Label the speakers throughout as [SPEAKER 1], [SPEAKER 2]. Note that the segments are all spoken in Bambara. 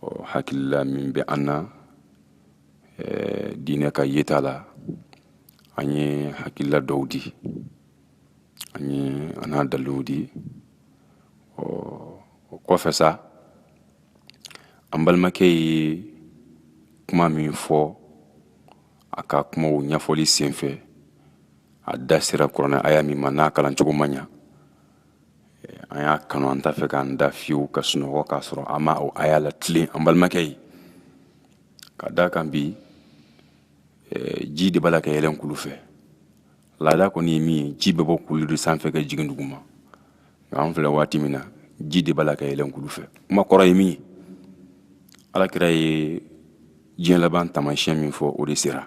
[SPEAKER 1] ɔ hakilila min bɛ an na diinɛ ka ɲɛtaa la an ye hakilila dɔw di an ye an'a daluw di ɔ o kɔfɛ sa an balimakɛ ye kuma min fɔ a ka kumaw ɲɛfɔli senfɛ a da sera kuranɛ aya min ma n'a kalancogo ma ɲa an y'a kanu an t'a fɛ k'an da fiyewu ka sunɔgɔ k'a sɔrɔ an ma o aya la tilen an balimakɛ ye k'a d'a kan bi eh, ji de b'a la ka yɛlɛn kulu fɛ laada kɔni ye min ye ji bɛ bɔ kulu de sanfɛ ka jigin duguma nka an filɛ waati min na ji de b'a la ka yɛlɛn kulu fɛ kuma kɔrɔ ye min ye alakira ye diɲɛ laban taamasiyɛn min fɔ o de sera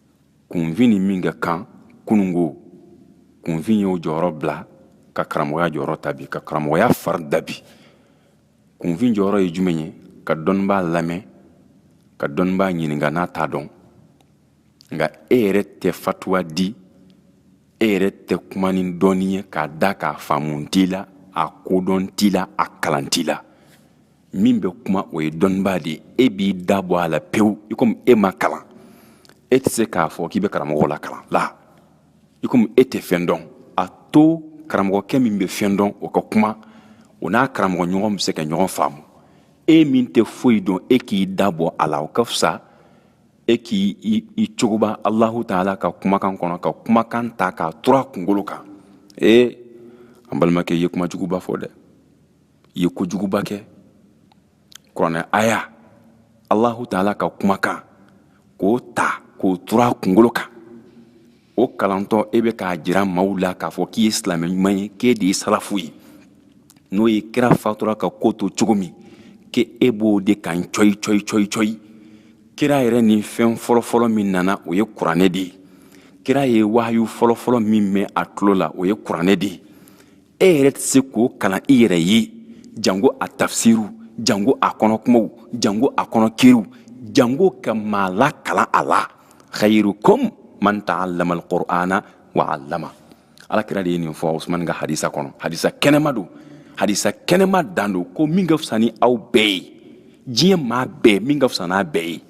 [SPEAKER 1] kunfin ni min ka kan kunun ko kunfin y'o jɔyɔrɔ bila ka karamɔgɔya jɔyɔrɔ ta bi ka karamɔgɔya fari da bi kunfin jɔyɔrɔ ye jumɛn ye ka dɔnnibaa lamɛn ka dɔnnibaa ɲininka n'a t'a dɔn nka e yɛrɛ tɛ fatuwa di e yɛrɛ tɛ kuma ni dɔnni ye k'a d'a kan a faamu t'i la a kodɔn t'i la a kalan t'i la min bɛ kuma o ye dɔnnibaa de ye e b'i da bɔ a la pewu i komi e ma kalan e tɛ se k'a fɔ k'i bɛ karamɔgɔ la kalan la i komi e tɛ fɛn dɔn a to karamɔgɔkɛ min bɛ fɛn dɔn o ka kuma o n'a karamɔgɔ ɲɔgɔn bɛ se ka ɲɔgɔn faamu e min tɛ foyi dɔn e k'i da bɔ a la o ka fisa e k'i cogoba alahu taala ka kumakan kɔnɔ ka kumakan ta k'a tur'a kunkolo kan ee an balimakɛ i ye kuma juguba fɔ dɛ i ye kojuguba kɛ kuranɛ aya alahu taala ka kumakan k'o ta k'o tur'a kunkolo kan o kalantɔ e bɛ k'a jira maaw la k'a fɔ k'i ye silamɛ ɲuman ye k'e de ye salafu ye n'o ye kira fatura ka ko to cogo min k'e b'o de kan cɔyi cɔyi cɔyi cɔyi kira yɛrɛ ni fɛn fɔlɔfɔlɔ min nana o ye kuranɛ de ye kira ye wahayu fɔlɔfɔlɔ min mɛn a tulo la o ye kuranɛ de ye e yɛrɛ tɛ se k'o kalan i yɛrɛ ye jango a tafsiriw jango a kɔnɔ kumaw jango a kɔnɔ kiiriw jango ka maa la kalan a la khayrukum man ta'allama alqur'ana wa 'allama alakira de ye nin fɔ usman ka hadisa kɔnɔ hadisa kɛnɛma don hadisa kɛnɛma dan don ko min ka fisa ni aw bɛɛ ye diɲɛ maa bɛɛ min ka fisa n'a bɛɛ ye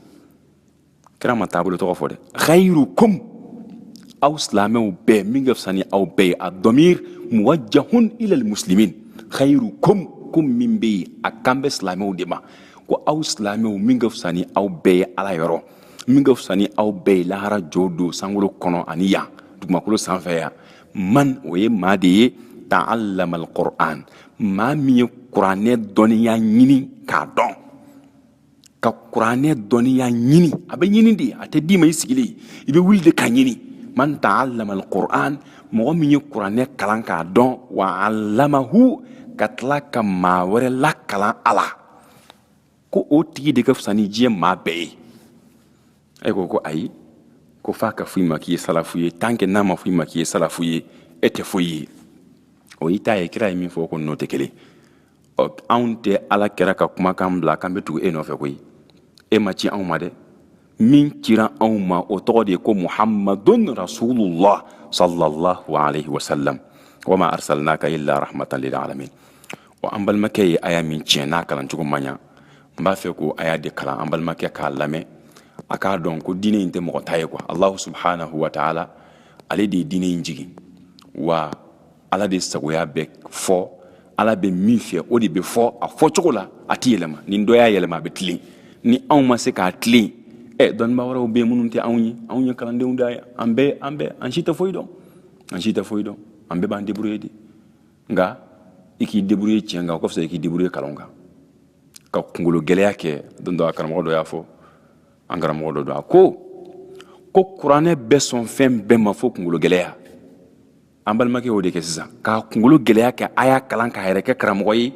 [SPEAKER 1] kira ma taabolo tɔgɔ fɔ dɛ khairukum aw silamɛw bɛɛ min ka fisa ni aw bɛɛ ye addamir muwajjahun ila almuslimin khairukum ko min bɛ yen a kan bɛ silamɛw de ma ko aw silamɛw min ka fisa ni aw bɛɛ ye ala yɔrɔ min ka fisa ni aw bɛɛ ye lahara jo don sankolo kɔnɔ ani yan dugumakolo sanfɛ yan man o ye maa de ye ta'allama alquran maa min ye kuranɛ dɔnniya ɲini k'a dɔn ka kuranɛ dɔnniya ɲini a bɛ ɲini de a tɛ d'i ma i sigilen i bɛ wuli de ka ɲini man ta'allama alquran mɔgɔ min ye kuranɛ kalan k'a dɔn wa allamahu ka tila ka maa wɛrɛ lakalan a la ko o tigi de ka fisa ni diɲɛ maa bɛɛ ye e ko ko ayi ko f'a ka fɔ i ma k'i ye salafu ye tant que n'a ma fɔ i ma k'i ye salafu ye e tɛ foyi ye o y'i ta ye kira ye min fɔ o ko n'o tɛ kelen ɔ anw tɛ ala kira ka kumakan bila k'an bɛ tugu e nɔfɛ koyi e ma ci anw ma dɛ min cira anw ma o tɔgɔ de ye ko muhammadun rasulullah sallallahu alaihi wasallam wa ma arsalnaka illa rahmatan lil alamin wa an balimakɛ ye aya min tiɲɛ n'a kalan cogo ma ɲa n b'a fɛ k'o aya de kalan an balimakɛ k'a lamɛn a k'a dɔn ko diinɛ in tɛ mɔgɔ ta ye ko allahu subhanahu wa taala ale de ye diinɛ in jigin wa ala de sagoya bɛ fɔ ala bɛ min fɛ o de bɛ fɔ a fɔ cogo la a tɛ yɛlɛma ni dɔ y'a yɛlɛma a bɛ tilen ni anw ma se k'a tilen ɛ dɔnnibaa wɛrɛw bɛ yen minnu tɛ anw ye anw ye kalandenw de ye an bɛɛ an bɛɛ an si tɛ foyi dɔn an si tɛ foyi dɔn an bɛɛ b'an débrouiller de nka i k'i débrouiller tiɲɛ kan o ka fisa i k'i débrouiller nkalon kan ka kungolo gɛlɛya kɛ don dɔ a karamɔgɔ dɔ y'a fɔ an karamɔgɔ dɔ don a ko ko kuranɛ bɛ sɔn fɛn bɛɛ ma fo kungolo gɛlɛya an balimakɛ y'o de kɛ sisan ka kungolo gɛlɛya kɛ a y'a kalan k'a yɛrɛ kɛ karamɔgɔ ye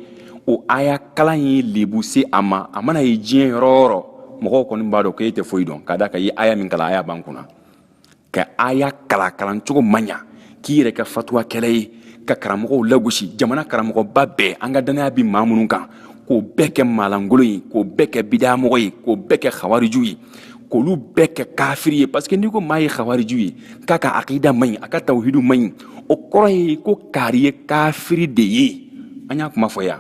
[SPEAKER 1] o aya kalan ye lebu se a ma a mana ye diɲɛ yɔrɔ o yɔrɔ mɔgɔw kɔni b'a dɔn ko e tɛ foyi dɔn k'a da kan i ye aya min kalan aya b'an kunna ka aya kalan kalan cogo ma ɲa k'i yɛrɛ kɛ fatuwakɛla ye ka karamɔgɔw lagosi jamana karamɔgɔba bɛɛ an ka dannaya bi maa minnu kan k'o bɛɛ kɛ maalankolon ye k'o bɛɛ kɛ bidayamɔgɔ ye k'o bɛɛ kɛ hawariju ye k'olu bɛɛ kɛ kafiri ye parce que n'i ko maa ye khawariju ye k'a ka akida man ɲi a ka tawhidu man ɲi o kɔrɔ ye ko kaari ye kafiri de ye an y'a kuma fɔ yan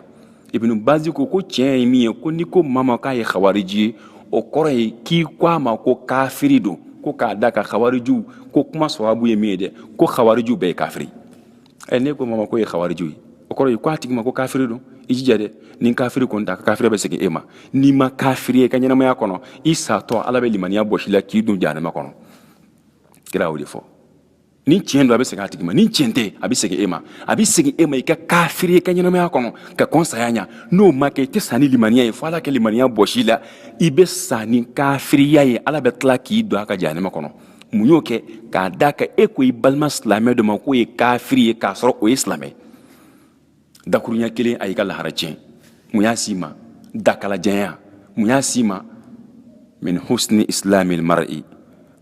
[SPEAKER 1] ibnu bazi ko ko tiɲɛ ye min ye ko n'i ko maa ma k'a ye khawariju ye o kɔrɔ ye k'i ko a ma ko kafiri don ko k'a da kan khawariju ko kuma sababu ye min ye dɛ ko khawariju bɛɛ ye kafiri ɛ n'e ko maa ma k'o ye khawariju ye o kɔrɔ ye ko a tigi ma ko kafiri don i jija dɛ ni kafiri kɔni tɛ a ka kafiri bɛ segin e ma n'i ma kafiriya i ka ɲɛnamaya kɔnɔ i satɔ ala bɛ limaniya bɔs'i la k'i don jahanama kɔnɔ kira y'o de fɔ ni tiɲɛ don a bɛ segin a tigi ma ni tiɲɛ tɛ a bɛ segin e ma a bɛ segin e ma i ka kafiriya i ka ɲɛnamaya kɔnɔ ka kɔn saya ɲa n'o ma kɛ i tɛ sa ni limaniya ye fo ala ka limaniya bɔs'i la i bɛ sa ni kafiriya ye ala bɛ tila k'i don a ka jahanama kɔnɔ mun y'o kɛ k'a da kan e ko i balima silamɛ dɔ ma k'o ye kafiri ye k'a sɔrɔ o ye silamɛ dakurunya kelen a y'i ka lahara tiɲɛ mun y'a s'i ma dakalajanya mun y'a s'i ma min husni islamil mar'i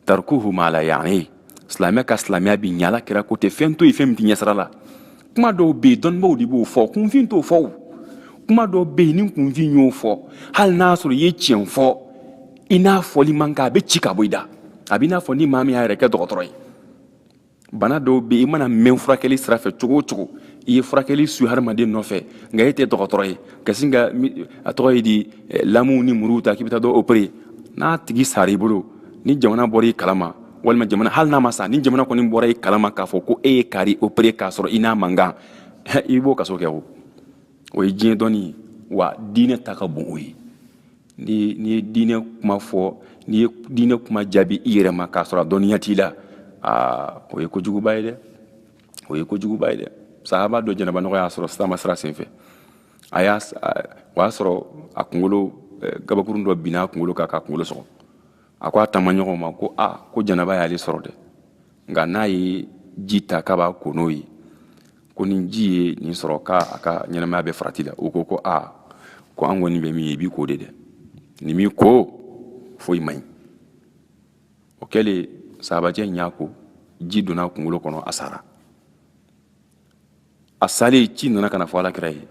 [SPEAKER 1] tarkuhu ma la ya'ni silamɛ ka silamɛya bi ɲala kira ko tɛ fɛn to yen fɛn min t'i ɲɛsira la kuma dɔw bɛ yen dɔnnibaaw de b'o fɔ kunfin t'o fɔ kuma dɔw bɛ yen ni kunfin y'o fɔ hali n'a sɔrɔ i ye tiɲɛ fɔ i n'a fɔli man kan a bɛ ci ka bɔ i da a b'i n'a fɔ ni maa min y'a yɛrɛ kɛ dɔgɔtɔrɔ ye bana dɔw bɛ yen i mana mɛn furakɛli sira fɛ cogo o cogo i ye furakɛli su hadamaden nɔfɛ nka e tɛ dɔgɔtɔrɔ ye ka sin ka a tɔgɔ ye di eh, lamuw ni muruw ta k'i bɛ taa dɔ opere n'a tigi sara i bolo ni jamana bɔra i kalama walima jamana hali n'a ma sa ni jamana kɔni bɔra i kalama k'a fɔ ko e ye kari opere k'a sɔrɔ i n'a man kan i b'o kaso kɛ o o ye diɲɛ dɔnni ye wa diinɛ ta ka bon o ye n'i ye diinɛ kuma fɔ n'i ye diinɛ kuma jaabi i yɛrɛ ma k'a sɔrɔ a dɔnniya t'i la aa o ye kojuguba ye dɛ o ye kojuguba ye dɛ sahaba dɔ janaba nɔgɔ y'a sɔrɔ sirama sira senfɛ a y'a o y'a sɔrɔ a kunkolo eh, gabakurun dɔ binna a kunkolo kan k'a kunkolo sɔgɔ a ko a taamaɲɔgɔnw ma ko a ko janaba y'ale sɔrɔ dɛ nka n'a ye ji ta k'a b'a ko n'o ye ko ni ji ye nin sɔrɔ k'a a ka ɲɛnamaya bɛ farati la o ko ko a ko an kɔni bɛ min ye i b'i ko de dɛ n'i m'i ko foyi man ɲi o kɛlen sahabacɛ in y'a ko ji donna a kunkolo kɔnɔ a sara a salen ci nana ka n'a fɔ alakira ye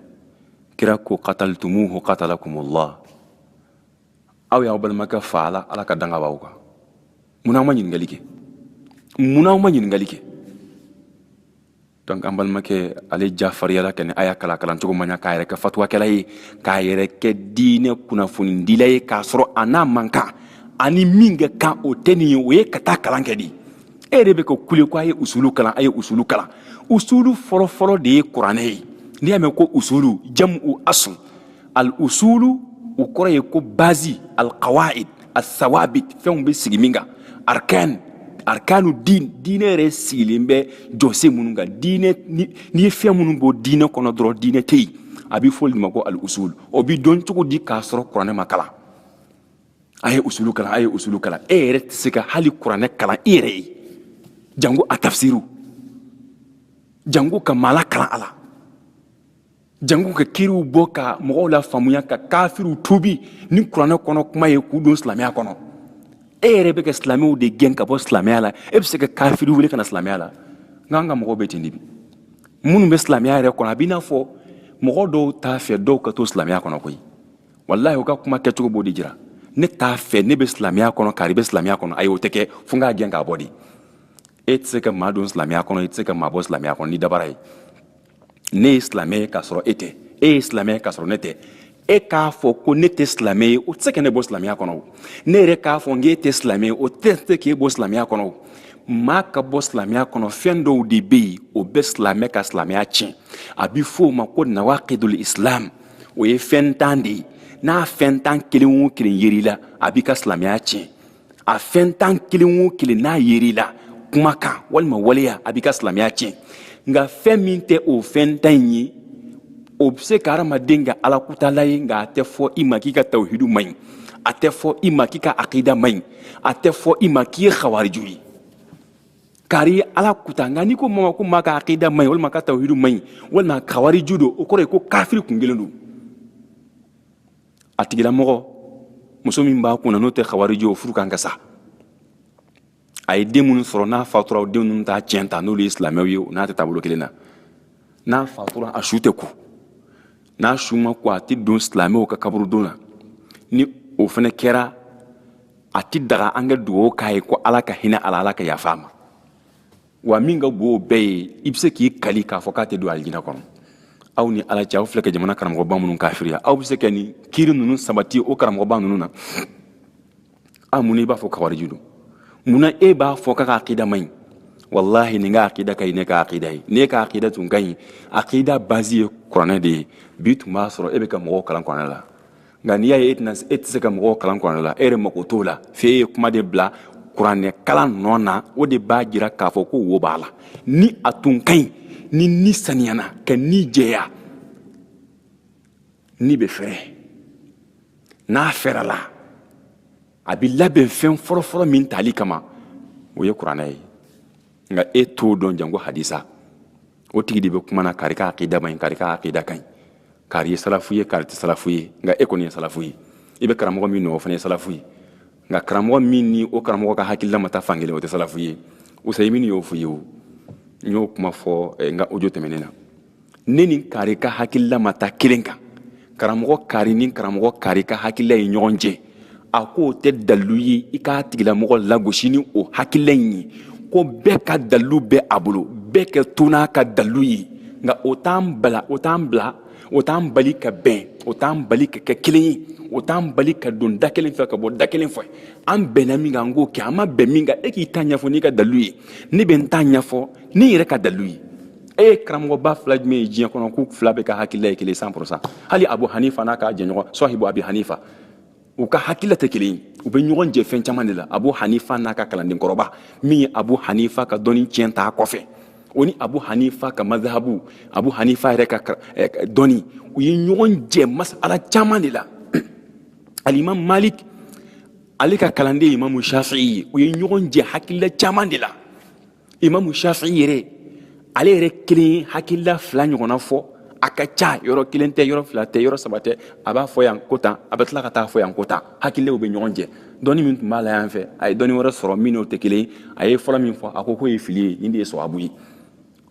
[SPEAKER 1] kira ko qataltumuhu qatalakumullah aw y'aw balimakɛ faga ala ka danga b'aw kan munna aw ma ɲininkali kɛ munna aw ma ɲininkali kɛ donc an balimakɛ ale jafariyala kɛnɛ a y'a kala kalan cogo man ɲa k'a yɛrɛ kɛ fatuwakɛla ye k'a yɛrɛ kɛ diinɛ kunnafonidila ye k'a sɔrɔ a n'a man kan a ni min ka kan o tɛ nin ye o ye ka taa kalan kɛ de e yɛrɛ bɛ ka kule ko a ye usulu kalan a ye usulu kalan usulu fɔlɔfɔlɔ de ye kuranɛ ye n'i y'a mɛn ko usulu jam'u asl al usulu o kɔrɔ ye ko bazi al qawaid al sawabit fɛnw bɛ sigi min kan arkan arkanu din diinɛ yɛrɛ sigilen bɛ jɔsen minnu kan diinɛ n'i ye fɛn minnu bɔ diinɛ kɔnɔ dɔrɔn diinɛ tɛ yen a bɛ fɔ olu ma ko al usul o bɛ dɔn cogo di k'a sɔrɔ kuranɛ ma kalan a ye usulu kalan a ye usulu kalan e yɛrɛ tɛ se ka hali kuranɛ kalan i yɛrɛ ye jango a tafsiru jango ka maa lakalan a la janko ka kiiriw bɔ ka mɔgɔw lafaamuya ka kafiriw tuubi ni kuranɛ kɔnɔ kuma ye k'u don silamɛya kɔnɔ e yɛrɛ bɛ ka silamɛw de gɛn ka bɔ silamɛya la e bɛ se ka kafiri wele ka na silamɛya la nka an ka mɔgɔw bɛ ten de bi minnu bɛ silamɛya yɛrɛ kɔnɔ a b'i n'a fɔ mɔgɔ dɔw t'a fɛ dɔw ka to silamɛya kɔnɔ koyi walahi u ka kuma kɛcogo b'o de jira ne t'a fɛ ne bɛ silamɛya kɔnɔ kari bɛ silamɛya kɔnɔ ayi o tɛ kɛ fo n k'a gɛn k'a bɔ de e tɛ se ka maa don silamɛya kɔnɔ i tɛ se ka maa bɔ silamɛya kɔnɔ ni dabara ye ne ye silamɛ ye k'a sɔrɔ e tɛ e ye silamɛ ye k'a sɔrɔ ne tɛ e k'a fɔ ko ne tɛ silamɛ ye o tɛ se ka ne bɔ silamɛya kɔnɔ ne yɛrɛ k'a fɔ k'e tɛ silamɛ ye o tɛ se k'e bɔ silamɛya kɔnɔ maa ka bɔ silamɛya kɔnɔ fɛn dɔw de bɛ yen o bɛ silamɛ ka silamɛya tiɲɛ a bɛ fɔ o ma ko nawaqidul islam o ye fɛn tan de ye n'a fɛn tan kelen o kelen yer'i la a b'i ka silamɛya tiɲɛ a fɛn tan kelen o kelen n'a yer'i la kumakan walima waleya a b'i ka silamɛya tiɲɛ nka fɛn min tɛ o fɛn tan in ye o bɛ se ka hadamaden kɛ alakutala ye nka a tɛ fɔ i ma k'i ka tawuhidu man ɲi a tɛ fɔ i ma k'i ka akida man ɲi a tɛ fɔ i ma k'i ye xawariju ye kari ala kuta nka n'i ko maa ma ko maa ka akida man ɲi walima ka tawuhidu man ɲi walima xawariju don o kɔrɔ ye ko kafiri kun kelen don a tigilamɔgɔ muso min b'a kunna n'o tɛ xawariju o furu kan ka sa a ye den minnu sɔrɔ n'a fatura o den ninnu t'a tiɲɛ ta n'olu ye silamɛw ye n'a tɛ taabolo kelen na n'a fatura a su tɛ ko n'a su ma ko a tɛ don silamɛw ka kaburudon na ni o fana kɛra a tɛ daga an ka dugawu k'a ye ko ala ka hinɛ a la ala ka yafa a ma wa min ka bon o bɛɛ ye i bɛ se k'i kali k'a fɔ k'a tɛ don alijina kɔnɔ aw ni ala cɛ aw filɛ ka jamana karamɔgɔba minnu kafiriya aw bɛ se ka nin kiiri ninnu sabati o karamɔgɔba ninnu na a munna i b'a fɔ xawariju don munna e b'a fɔ k'a ka akida man ɲi walahi nin ka akida ka ɲi n'e ka akida ye n'e ka akida tun ka ɲi akida bazi ye kuranɛ de ye bi tun b'a sɔrɔ e bɛ ka mɔgɔw kalan kuranɛ la nka n'i y'a ye e tɛna e tɛ se ka mɔgɔw kalan kuranɛ la e yɛrɛ mako t'o la f'e ye kuma de bila kuranɛ kalan nɔ na o de b'a jira k'a fɔ ko wo b'a la ni a tun ka ɲi ni ni saniyana ka ni jɛya ni bɛ fɛrɛ n'a fɛrɛla a bɛ labɛn fɛn fɔlɔfɔlɔ min tali kama o ye kuranɛ ye nka e t'o dɔn janko hadisa o tigi de bɛ kuma na kari ka akida man ɲi kari ka akida ka ɲi kari ye salafu ye kari tɛ salafu ye nka e kɔni ye salafu ye i bɛ karamɔgɔ min nɔ o fana ye salafu ye nka karamɔgɔ min ni o karamɔgɔ ka hakilila ma taa fan kelen o tɛ salafu ye usayimini y'o fɔ ye o n y'o kuma fɔ eh, n ka ojo tɛmɛnen na ne ni kari ka hakilila ma taa kelen kan karamɔgɔ kari ni karamɔgɔ kari ka hakilila ye ɲɔgɔn jɛ a ko o tɛ dalilu ye i k'a tigilamɔgɔ lagosi ni o hakilila in ye ko bɛɛ ka dalilu bɛ a bolo bɛɛ ka to n'a ka dalilu ye nka o t'an bala o t'an bila o t'an bali ka bɛn o t'an bali ka kɛ kelen ye o t'an bali ka don da kelen fɛ ka bɔ da kelen fɛ an bɛnna min kan an k'o kɛ an ma bɛn min kan e k'i ta ɲɛfɔ n'i ka dalilu ye ne bɛ n ta ɲɛfɔ ni n yɛrɛ ka dalilu ye e ye karamɔgɔba fila jumɛn ye diɲɛ kɔnɔ k'u fila bɛɛ ka hakilila ye kelen cent pour cent hali abu hanifa n'a ka jɛɲɔgɔn sɔhibu abi hanifa u ka hakilila tɛ kelen ye u bɛ ɲɔgɔn jɛ fɛn caman de la abu hanifa n'a ka kalanden kɔrɔba min ye abu hanifa ka dɔnni tiɲɛ t'a kɔfɛ o ni abu hanifa ka mazahabu abu hanifa yɛrɛ ka eh, dɔnni u ye ɲɔgɔn jɛ masala caman de la alimam malik ale ka kalanden imamu shafi'i ye u ye ɲɔgɔn jɛ hakilila caman de la imamu shafi yɛrɛ ale yɛrɛ kelen hakilila fila ɲɔgɔnna fɔ a ka ca yɔrɔ kelen tɛ yɔrɔ fila tɛ yɔrɔ saba tɛ a b'a fɔ yan ko tan a bɛ tila ka t'a fɔ yan ko tan hakililaw bɛ ɲɔgɔn jɛ dɔnni min tun b'a la yan fɛ a ye dɔnni wɛrɛ sɔrɔ min n'o tɛ kelen ye a ye fɔlɔ min fɔ a ko k'o ye fili ye nin de ye sɔwabu ye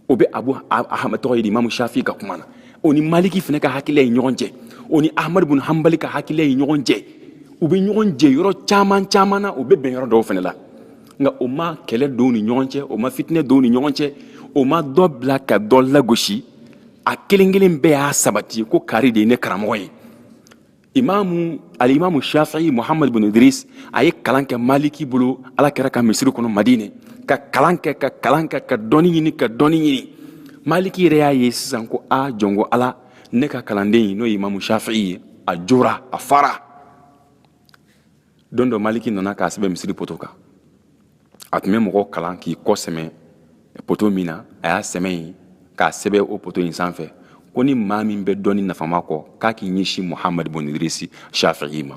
[SPEAKER 1] o bɛ abu ahama tɔgɔ ye di imamu shafi ka kuma na o ni maliki fana ka hakilila ye ɲɔgɔn jɛ o ni ahamadu bin hanbali ka hakilila ye ɲɔgɔn jɛ u bɛ ɲɔgɔn jɛ yɔrɔ caman caman na u bɛ bɛn yɔrɔ dɔw fana la nka o ma kɛlɛ don ni ɲɔgɔn cɛ o ma fitinɛ don ni ɲɔgɔn cɛ o ma dɔ bila ka dɔ lagosi a kelen kelen bɛɛ y'a sabati ko kari de ye ne karamɔgɔ ye imamu alimamu shafi'i muhamadu bin idris a ye kalan kɛ maliki bolo ala kira ka misiri kɔnɔ madinɛ ka kalan kɛ ka kalan kɛ ka dɔnni ɲini ka dɔnni ɲini maliki yɛrɛ y'a ye sisan ko a jɔnko ala ne ka kalanden ye n'o ye imamu shafi'i ye a jɔra a fara don dɔ maliki nana k'a sɛbɛn misiri poto kan a tun bɛ mɔgɔ kalan k'i kɔ sɛmɛ poto min na a y'a sɛmɛ in k'a sɛbɛn o poto in sanfɛ ko ni maa min bɛ dɔnni nafama kɔ k'a k'i ɲɛsin muhamadu bin idirisi shafi'i ma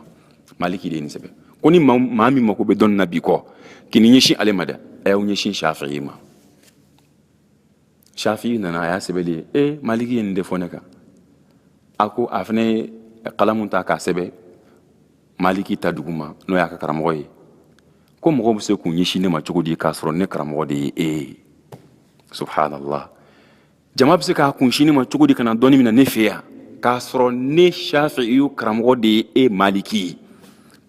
[SPEAKER 1] maliki de ye nin sɛbɛn ko ni maa min mako bɛ dɔnni na bi kɔ kan'i ɲɛsin ale ma dɛ a y'aw ɲɛsin shafi'i ma shafi'i nana a y'a sɛbɛn ye ee maliki ye nin de fɔ ne kan a ko a fana ye kalamu ta k'a sɛbɛn maliki ta duguma n'o y'a ka karamɔgɔ ye ko mɔgɔw bɛ se k'u ɲɛsin ne ma cogo di k'a sɔrɔ ne karamɔgɔ de ye e ye subhanallah jama bɛ se k'a kunsin ne ma cogo di ka na dɔnni minɛ ne fɛ yan k'a sɔrɔ ne shafi'iyu karamɔgɔ de ye e maliki ye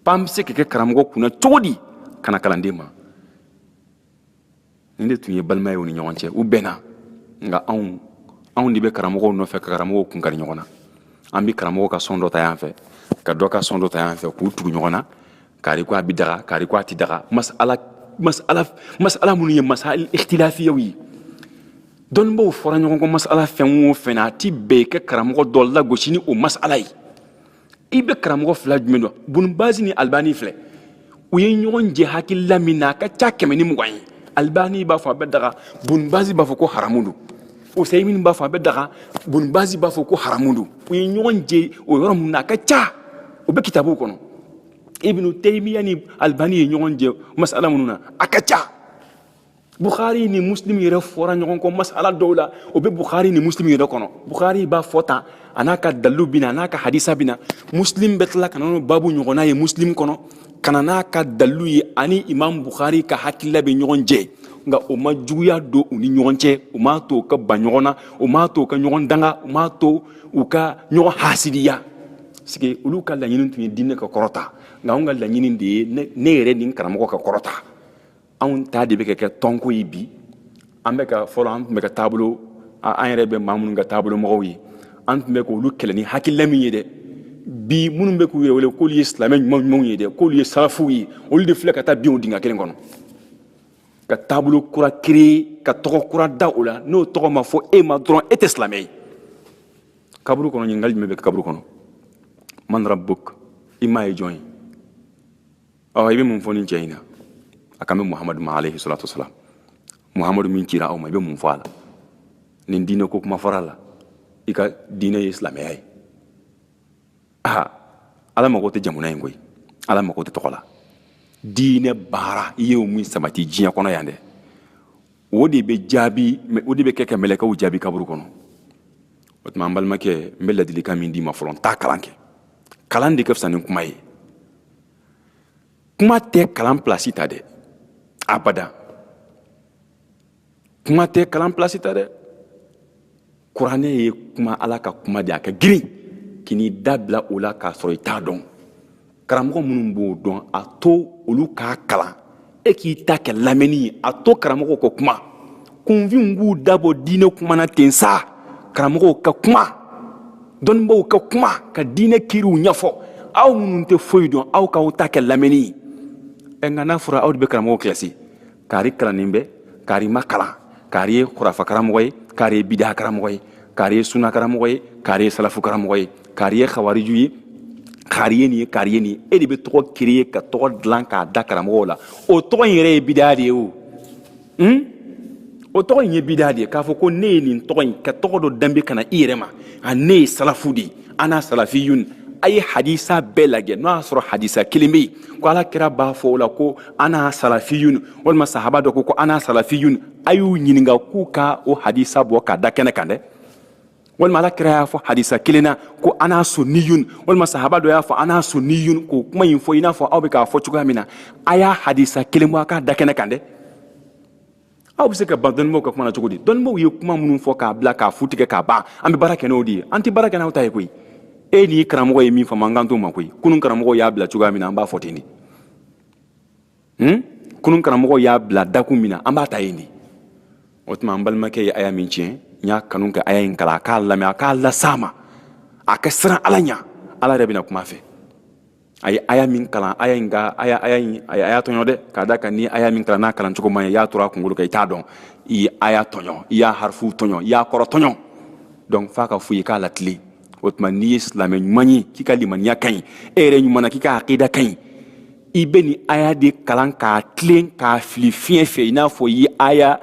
[SPEAKER 1] pan bɛ se ka kɛ karamɔgɔ kunna cogo di ka na kalanden ma nin de tun ye balima ye u ni ɲɔgɔn cɛ u bɛnna nka anw anw de bɛ karamɔgɔw nɔfɛ ka karamɔgɔw kun kari ɲɔgɔn na an bɛ karamɔgɔ ka sɔn dɔ ta yan fɛ ka dɔ ka sɔn dɔ ta yan fɛ k'u tugu ɲɔgɔn na kari ko a bɛ daga kari ko a tɛ daga masala masala masala minnu ye masala ikhtilafiyaw ye dɔnnibaaw fɔra ɲɔgɔn kɔ masala fɛn o fɛn na a ti bɛn i ka karamɔgɔ dɔ lagosi ni o masala ye i bɛ karamɔgɔ fila jumɛn dɔn bunubasi ni alibani filɛ u ye ɲɔgɔn jɛ hakilila min na a ka ca kɛmɛ ni mugan ye alibani b'a fɔ a bɛ daga bunubasi b'a fɔ ko haramu don usayimini b'a fɔ a bɛ daga bunubasi b'a fɔ ko haramu don u ye ɲɔgɔn jɛ o yɔrɔ min na a ka ca o bɛ kitabuw kɔnɔ ibnu teyimiya ni alibani ye ɲɔgɔn jɛ masala minnu na a ka ca bukhari ni muslim yɛrɛ fɔra ɲɔgɔn kɔ masala dɔw la o bɛ bukhari ni muslim yɛrɛ kɔnɔ bukhari b'a fɔ tan a n'a ka dalilu bɛ na a n'a ka hadisa bɛ na muslim bɛ tila ka na n'o babu ɲɔgɔnna ye muslim kɔnɔ ka na n'a ka dalilu ye ani imam bukhari ka hakilila bɛ ɲɔgɔn jɛ nka o ma juguya don u ni ɲɔgɔn cɛ o m'a to u ka ban ɲɔgɔn na o m'a to u ka ɲɔgɔn danga o m'a to u ka ɲɔgɔn hasidiya sike olu ka laɲini tun ye diinɛ ka kɔrɔta nka anw ka laɲini de ye ne yɛrɛ ni n karamɔgɔ ka kɔrɔta anw ta de bɛ ka kɛ tɔnko ye bi an bɛ ka fɔlɔ an tun bɛ ka taabolo an yɛrɛ bɛ maa minnu ka taabolo mɔgɔw ye an tun bɛ k'olu kɛlɛ ni hakilila min ye dɛ bi minnu bɛ k'u yɛrɛ wele k'olu ye silamɛ ɲuman ɲumanw ye dɛ k'olu ye salafuw ye olu de filɛ ka taa bin o dingɛ kelen kɔnɔ ka taabolo kura kiri ka tɔgɔ kura da o la n'o tɔgɔ ma fɔ e ma dɔrɔn e tɛ silamɛ ye kaburu kɔnɔ ɲininkali jumɛn bɛ kaburu kɔnɔ man rabuk i ma ye jɔn ye ɔ i bɛ mun fɔ nin cɛ in na a kan bɛ muhamadu ma alayhi salatu wasalam muhamadu min cira aw ma i bɛ mun fɔ a la nin diinɛ ko kuma fɔra a la i ka diinɛ ye silamɛya ye aa ala mago tɛ jamu na koyi ala mago tɛ tɔgɔ la diinɛ baara i y'o min sabati diɲɛ kɔnɔ yan dɛ o de bɛ jaabi o de bɛ kɛ ka mɛlɛkɛw jaabi kaburu kɔnɔ o tuma n balimakɛ n bɛ ladilikan min d'i ma fɔlɔ taa kalan kɛ kalan de ka fisa ni kuma ye kuma tɛ kalan pilasi ta dɛ abada kuma tɛ kalan pilasi ta dɛ kuranɛ ye kuma ala ka kuma de a ka girin k'i n'i da bila o la k'a sɔrɔ i t'a dɔn karamɔgɔ minnu b'o dɔn a to olu k'a kalan e k'i ta kɛ lamɛnni ye a to karamɔgɔw ka kuma kunfinw k'u dabɔ diinɛ kuma na ten sa karamɔgɔw ka kuma dɔnnibaaw ka kuma ka diinɛ kiriw ɲɛfɔ aw minnu tɛ foyi dɔn aw k'aw ta kɛ lamɛnni ye ɛ nka n'a fɔra aw de bɛ karamɔgɔw kilasi kaari kalannen bɛ kaari ma kalan kari ye kurafakaramɔgɔ ye kari ye bidakaramɔgɔ ye kari ye sunakaramɔgɔ ye kari ye salafukaramɔgɔ ye kari ye xawariju ye kari ye nin ye kari ye nin ye aw de bɛ tɔgɔ créer ka tɔgɔ dilan k'a da karamɔgɔw la o tɔgɔ in yɛrɛ ye bidaa de ye o hmm? o tɔgɔ in ye bidaa de ye k'a fɔ ko ne ye nin tɔgɔ in ka tɔgɔ dɔ danbe ka na i yɛrɛ ma a ne ye salafu de ye ana salafiyun a ye hadisa bɛɛ lajɛ n'o y'a sɔrɔ hadisa kelen bɛ yen ko ala kira b'a fɔ o la ko ana salafiyun walima sahaba dɔ ko ko ana salafiyun a y'u ɲininka k'u ka o hadisa bɔ k'a da kɛnɛ kan dɛ walima ala kira y'a fɔ hadisa kelen na ko ana sunniyun walima sahaba dɔ y'a fɔ ana sunniyun k'o kuma in fɔ i n'a fɔ aw bɛ k'a fɔ cogoya min na a y'a hadisa kelen bɔ a k'a da kɛnɛ kan dɛ aw bɛ se ka ban dɔnnibaw ka kuma na cogo di dɔnnibaw ye kuma minnu fɔ k'a bila k'a fu tigɛ k'a ban an bɛ baara kɛ n'o de ye an tɛ baara kɛ n'aw ta ye koyi e ni karamɔgɔ ye min faamu an kan t'o ma koyi kunun karamɔgɔ y'a bila cogoya min na an b'a fɔ ten de hmm? kunun karamɔgɔ y'a bila dakun min na an b'a ta yen de o tuma an balimakɛ ye aya min tiɲɛ n y'a kanu ka aya in kalan a k'a lamɛn a k'a las'a ma a ka siran ala ɲa ala yɛrɛ bɛna kuma fɛ a ye aya min kalan aya in ka aya aya in a y'a tɔɲɔ dɛ k'a da kan ni aya min kalan n'a kalan cogo man ɲi i y'a turu a kunkolo kan i t'a dɔn i ye aya tɔɲɔ i y'a harifuw tɔɲɔ i y'a kɔrɔ tɔɲɔ donc f'a ka fɔ i ye k'a latilen o tuma n'i ye silamɛ ɲuman ye k'i ka limaniya ka ɲi e yɛrɛ ɲuman na k'i ka akida ka ɲi i bɛ nin aya de kalan k'a tilen k'a fili fiɲɛ fɛ i n'a fɔ i ye aya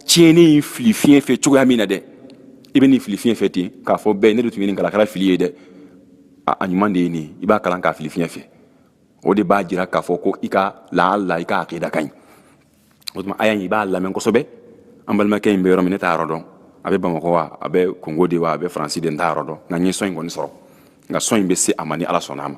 [SPEAKER 1] tiɲɛnen in fili fiɲɛ fɛ cogoya min na dɛ i bɛ nin fili fiɲɛ fɛ ten k'a fɔ bɛɛ ne de tun ye nin kalan a kɛra fili ye dɛ a ɲuman de ye nin i b'a kalan k'a fili fiɲɛ fɛ o de b'a jira k'a fɔ ko i ka lahala i ka akida ka ɲi o tuma aya in i b'a lamɛn kosɛbɛ an balimakɛ in bɛ yɔrɔ min ne t'a yɔrɔ dɔn a bɛ bamakɔ wa a bɛ kongo de wa a bɛ faransi de n t'a yɔrɔ dɔn nka n ye sɔn in kɔni sɔrɔ nka sɔn in bɛ se a ma ni ala sɔnna a ma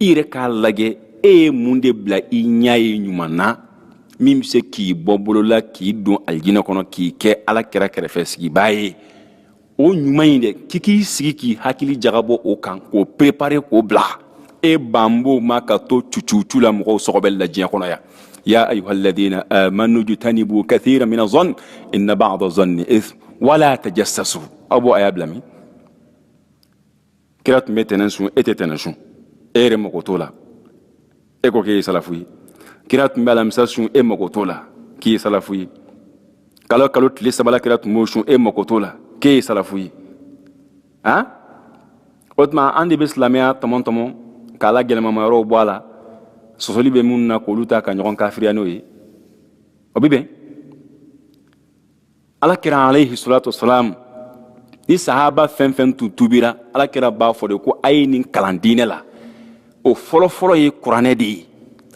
[SPEAKER 1] i yɛrɛ k'a lajɛ e ye mun de bila i ɲɛ ye ɲuman na min bɛ se k'i bɔ bolo la k'i don alijinɛ kɔnɔ k'i kɛ ala kira kɛrɛfɛ sigibaa ye o ɲuman in dɛ k'i k'i sigi k'i hakili jagabɔ o kan k'o perepare k'o bila e banbo ma ka to cucucu la mɔgɔw sɔgɔbɛli la diɲɛ kɔnɔ yan ya ayuha alladina amanu jutanibu kathira mina zɔn inna ba'da zɔnni ithm wala tajassasu aw b'o aya bila min kira tun bɛ tɛnɛn sun e tɛ tɛnɛn sun e yɛrɛ mako t'o la e ko k'e ye salafu ye kira tun bɛ alamisa sun e mako t'o la k'i ye salafu ye kalo kalo tile saba la kira tun b'o sun e mako t'o la k'e ye salafu ye han o tuma an de bɛ silamɛya tɔmɔ tɔmɔ k'a la gɛlɛmama yɔrɔw bɔ a la sɔsɔli bɛ minnu na k'olu ta ka ɲɔgɔn kafiriya n'o ye o bɛ bɛn ala kira alayhi salatu wasalam ni sahaba fɛn fɛn tun tubira ala kira b'a fɔ de ko a ye nin kalan diinɛ la o fɔlɔfɔlɔ ye kuranɛ de ye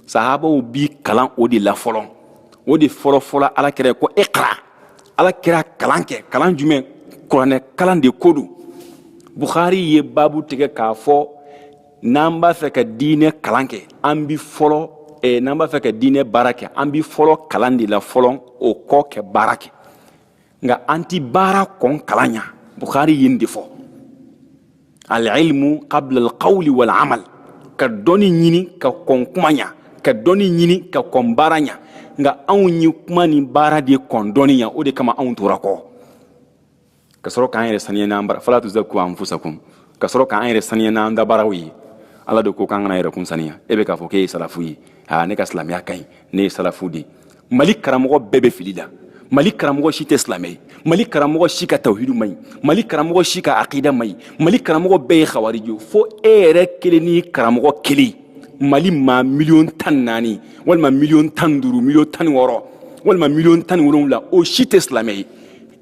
[SPEAKER 1] sahabaw bi kalan o de la fɔlɔ o de fɔlɔfɔlɔ ala kira ko ikra ala kira kalan kɛ kalan jumɛn kuranɛ kalan de ko don bukhari ye babu tigɛ k'a fɔ n'an b'a fɛ ka diinɛ kalan kɛ an bi fɔlɔ eh, n'an b'a fɛ ka diinɛ baara kɛ an bi fɔlɔ kalan de la fɔlɔ o kɔ kɛ baara kɛ nka an ti baara kɔn kalan ɲa bukhari ye nin de fɔ alilmu qabla alqawli wal amal ka dɔnni ɲini ka kɔn kuma ɲa ka dɔnni ɲini ka kɔn baara ɲa nka anw ye kuma ni baara de kɔn dɔnni ɲa o de kama anw tora kɔ ka sɔrɔ k'an yɛrɛ saniya n'an bara fala tuzakku anfusakum ka sɔrɔ k'an yɛrɛ saniya n'an da baaraw ye ala de ko k'an kana yɛrɛkun saniya e bɛ k'a fɔ k'e ye salafu ye aa ne ka silamɛya ka ɲi ne ye salafu de mali karamɔgɔ bɛɛ bɛ fili la mali
[SPEAKER 2] karamɔgɔ si tɛ silamɛ ye mali karamɔgɔ si ka tawhidu man ɲi mali karamɔgɔ si ka akida man ɲi mali karamɔgɔ bɛɛ ye khawariji fo e yɛrɛ kelen ni karamɔgɔ kelen mali maa miliyɔn tan ni naani walima miliyɔn tan ni duuru miliyɔn tan ni wɔɔrɔ walima miliyɔn tan ni wolonwula o si tɛ silamɛ ye